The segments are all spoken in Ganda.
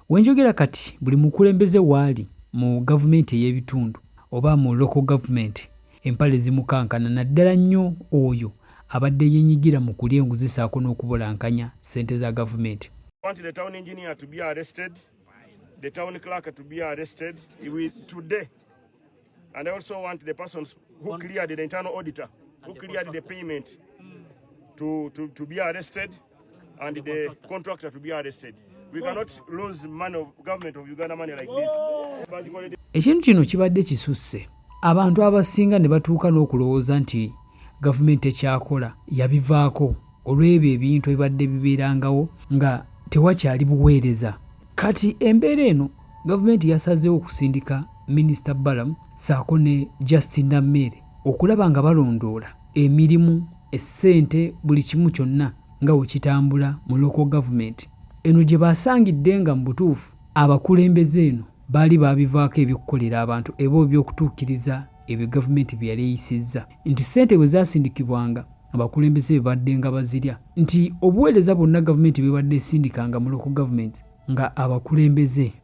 We njogera kati buli mukulembeze waali mu gavumenti ey'ebitundu oba mu local government empale zimukankana naddala nnyo oyo abadde yenyigira mu kulya enguzi saako n'okubulankanya ssente za gavumenti. I want the town engineer to be arrested, the town clerk to be arrested with today. And I also want the persons who cleared the internal auditor, who cleared the payment to, to, to be arrested. and the contractor to be arrested. We cannot lose money of government of Uganda money like this. Ekintu kino kibadde kisusse abantu abasinga ne batuuka n'okulowooza nti gavumenti ekyakola yabivaako olw'ebyo ebintu ebibadde bibeerangawo nga tewakyali buweereza kati embeera eno gavumenti yasazeewo okusindika minisita balamu saako ne justin nameere okulaba nga balondoola emirimu, essente buli kimu kyonna nga bwe kitambula mu Local Government eno gye baasangidde nga mu butuufu abakulembeze eno baali baabivaako eby'okukolera abantu eba eby'okutuukiriza ebyo Gavumenti bye yali eyisizza nti ssente bwe zaasindikibwanga abakulembeze be baddenga bazirya nti obuweereza bwonna Gavumenti bw'ebadde esindikanga mu Local Government nga abakulembeze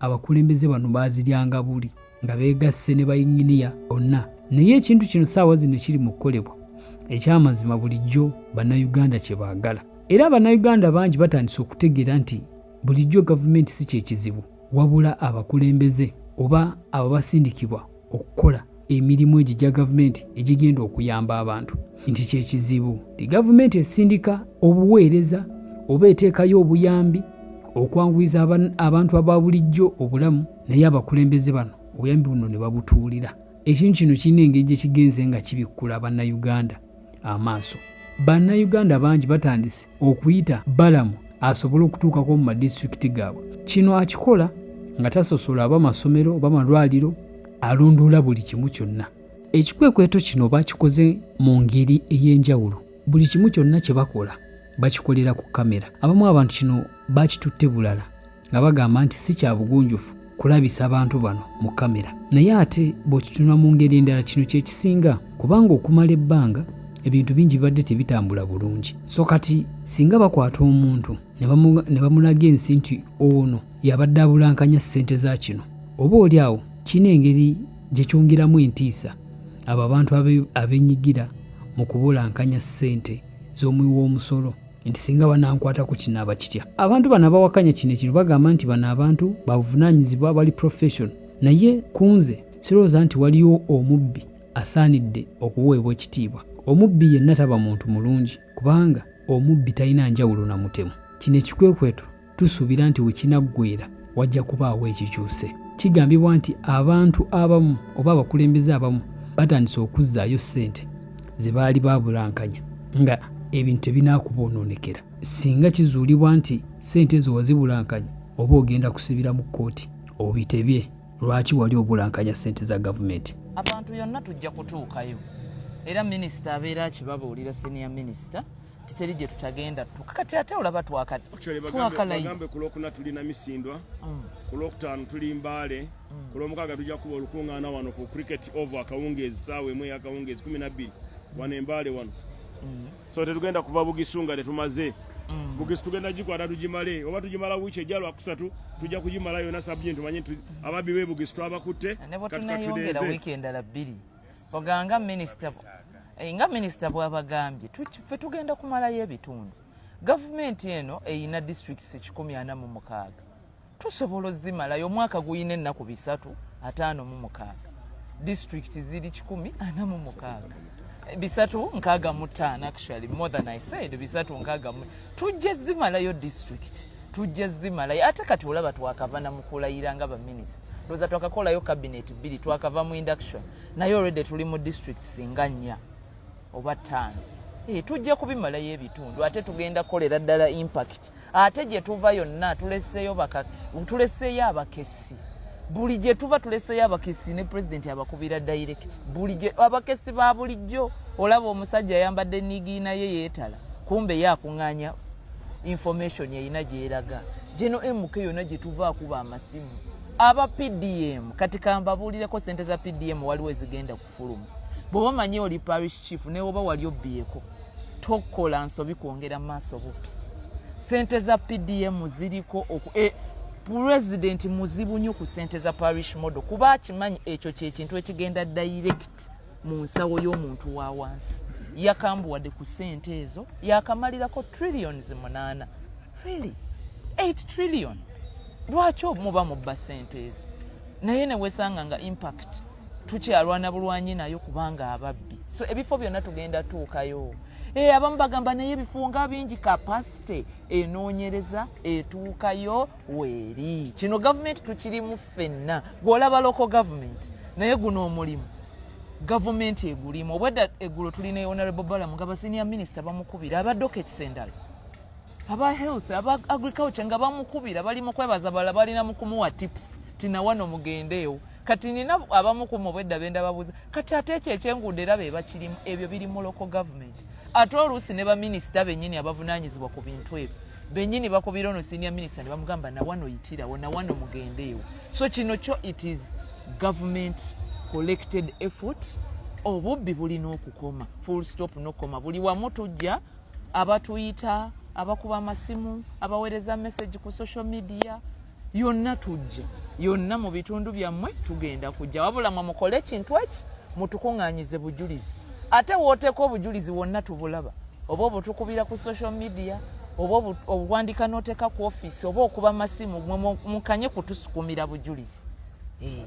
abakulembeze bano baaziryanga buli nga beegasse ne bayinginiya bonna naye ekintu kino saawa zino kiri mu kukolebwa ekyamazima bulijjo bannayuganda kye baagala era bannayuganda bangi batandise okutegeera nti bulijjo gavumenti si kyekizibu wabula abakulembeze oba ababasindikibwa okukola emirimu egyo gya gavumenti egigenda okuyamba abantu nti kyekizibu ti gavumenti esindika obuweereza oba eteekayo obuyambi okwanguyiza abantu aba bulijjo obulamu naye abakulembeze bano obuyambi buno ne babutuulira ekintu kino kirina engeri gye kigenze nga kibikkula bannayuganda amaaso. Bannayuganda bangi batandise okuyita Balamu asobole okutuukako mu madisitulikiti gaabwe. Kino akikola nga tasosola aba masomero oba malwaliro, alondoola buli kimu kyonna. Ekikwekweto kino bakikoze mu ngeri ey'enjawulo. Buli kimu kyonna kye bakola bakikolera ku kamera. Abamu abantu kino bakitutte bulala. nga bagamba nti si kya bugunjufu kulabisa bantu bano mu kamera naye ate bw'okitunula mu ngeri endala kino kye kisinga kubanga okumala ebbanga ebintu bingi bibadde tebitambula bulungi so kati singa bakwata omuntu ne bamulaga ensi nti ono yabadde abulankanya ssente za kino oba oli awo kirina engeri gye kyongeramu entiisa abo abantu abenyigira mu kubulankanya ssente z'omuwi w'omusolo nti singa banankwata ku kinaaba kitya abantu bano abawakanya kino ekino bagamba nti bano abantu babuvunaanyizibwa bali profession naye kunze sirowooza nti waliwo omubbi asaanidde okuweebwa ekitiibwa omubbi yenna taba muntu mulungi kubanga omubbi talina njawulo na mutemu kino ekikwekweto tusuubira nti we kinaggweera wajja kubaawo ekikyuse. Kigambibwa nti abantu abamu oba abakulembeze abamu batandise okuzzaayo ssente ze baali baabulankanya nga ebintu tebinaakuboononekera singa kizuulibwa nti ssente ezo wazibulankanya oba ogenda kusibira mu kkooti obitebye lwaki wali obulankanya ssente za gavumenti abantu yonna tujja kutuukayo era minisita abeera akibabuulira senior minisita titeri gye tutagenda tuka kati ate olaba twakalabagambe ku lwokuna tuli namisindwa mm. ku lwokutaano tuli mbaale mm. ku lwomukaaga tujja kuba olukuŋŋaana wano ku cricket ova akawungeezi saawa emu eyakawungeezi kumi nabbiri mm. wano embaale wano so tetugenda kuva bugisu nga tetumaze bugisu tugenda gikwata tugimale oba tugimala wiiki ejja lwakusatu tujja kugimala yona sabujenti tumanye ababbi bebugisu twabakutte katukatudeeze oganga minisita eh, nga minisita bwabagambye fe tugenda kumalayo ebitundu gavumenti eno eyina districts ekikumi ana mu mukaaga tusobola ozimalayo omwaka guyina ennaku bisatu ataano mu mukaaga district ziri kikumi ana mu mukaaga bisatu nkaaga mu taano actually more than i said bisatu nkaaga mu tujja zimalayo district tujja zimalayo ate kati olaba twakava namukulayira nga baminisita ndoza twakakolayo kabinet bbiri twakava mu induction naye olwedde tuli mu district singa nnya oba ttaano e, eh, tujja kubimalayo ebitundu ate tugenda kukolera ddala impact ate gye tuva yonna tuleseeyo tuleseeyo abakesi buli gye tuva tuleseeyo abakesi ne pulezidenti abakubira direct buli gye abakesi ba bulijjo olaba omusajja ayambadde niigiina ye yeetala kumbe ye akuŋŋaanya information erina gyeraga geno mk yona gyetuva akuba amasimu aba pdm kati kambabuulireko sente za pdm waliwo ezigenda kufulumu bweoba omanyi oli parish chief newoba wali obbyeko tokola nsobi kwongera maaso bupi sente za pdm ziriko e, pulezidenti muzibu nyo ku sente za parish model kuba akimanyi ekyo kyekintu ekigenda direct mu nsawo y'omuntu wa wansi yakambuwadde ku ssente ezo yakamalirako trillions munaana really 8 trillion lwaki omuba mubba ssente ezo naye newesanga nga impact tukyalwana bulwanyi nayo kubanga ababbi so ebifo byonna tugenda tuukayo e, abamu bagamba naye ebifo nga bingi kapasite enoonyereza etuukayo weeri kino gavumenti tukirimu ffenna gweolaba loko gavumenti naye guno omulimu gavumenti egulimu obwedda eggulo tulina honorable balamu nga basenior minisita bamukubira aba dokets endala aba health aba agriculture nga bamukubira bali mukwebaza bala balina mukumuwa tips tinawano mugendeewo kati nina abamu ku mubwedda benda babuuza kati ate ekyo ekyenguudo era be bakirimu ebyo biri mu local government ate oluusi ne baminisita bennyini abavunaanyizibwa ku bintu ebyo bennyini bakubira ono senior minisita ne bamugamba nawano yitirawo nawano mugendeewo so kino kyo it is government collected effort obubbi bulina okukoma full stop nokukoma buli wamu tujja abatuyita abakuba amasimu abaweereza message ku social media yonna tujja yonna mu bitundu byammwe tugenda kujja wabula mwe mukole ekintu eki mutukuŋŋaanyize bujulizi ate wooteeka obujulizi wonna tubulaba oba obutukubira ku social media oba obwandika n'oteeka ku ofiisi oba okuba masimu mwe mukanye kutusukumira bujulizi eh.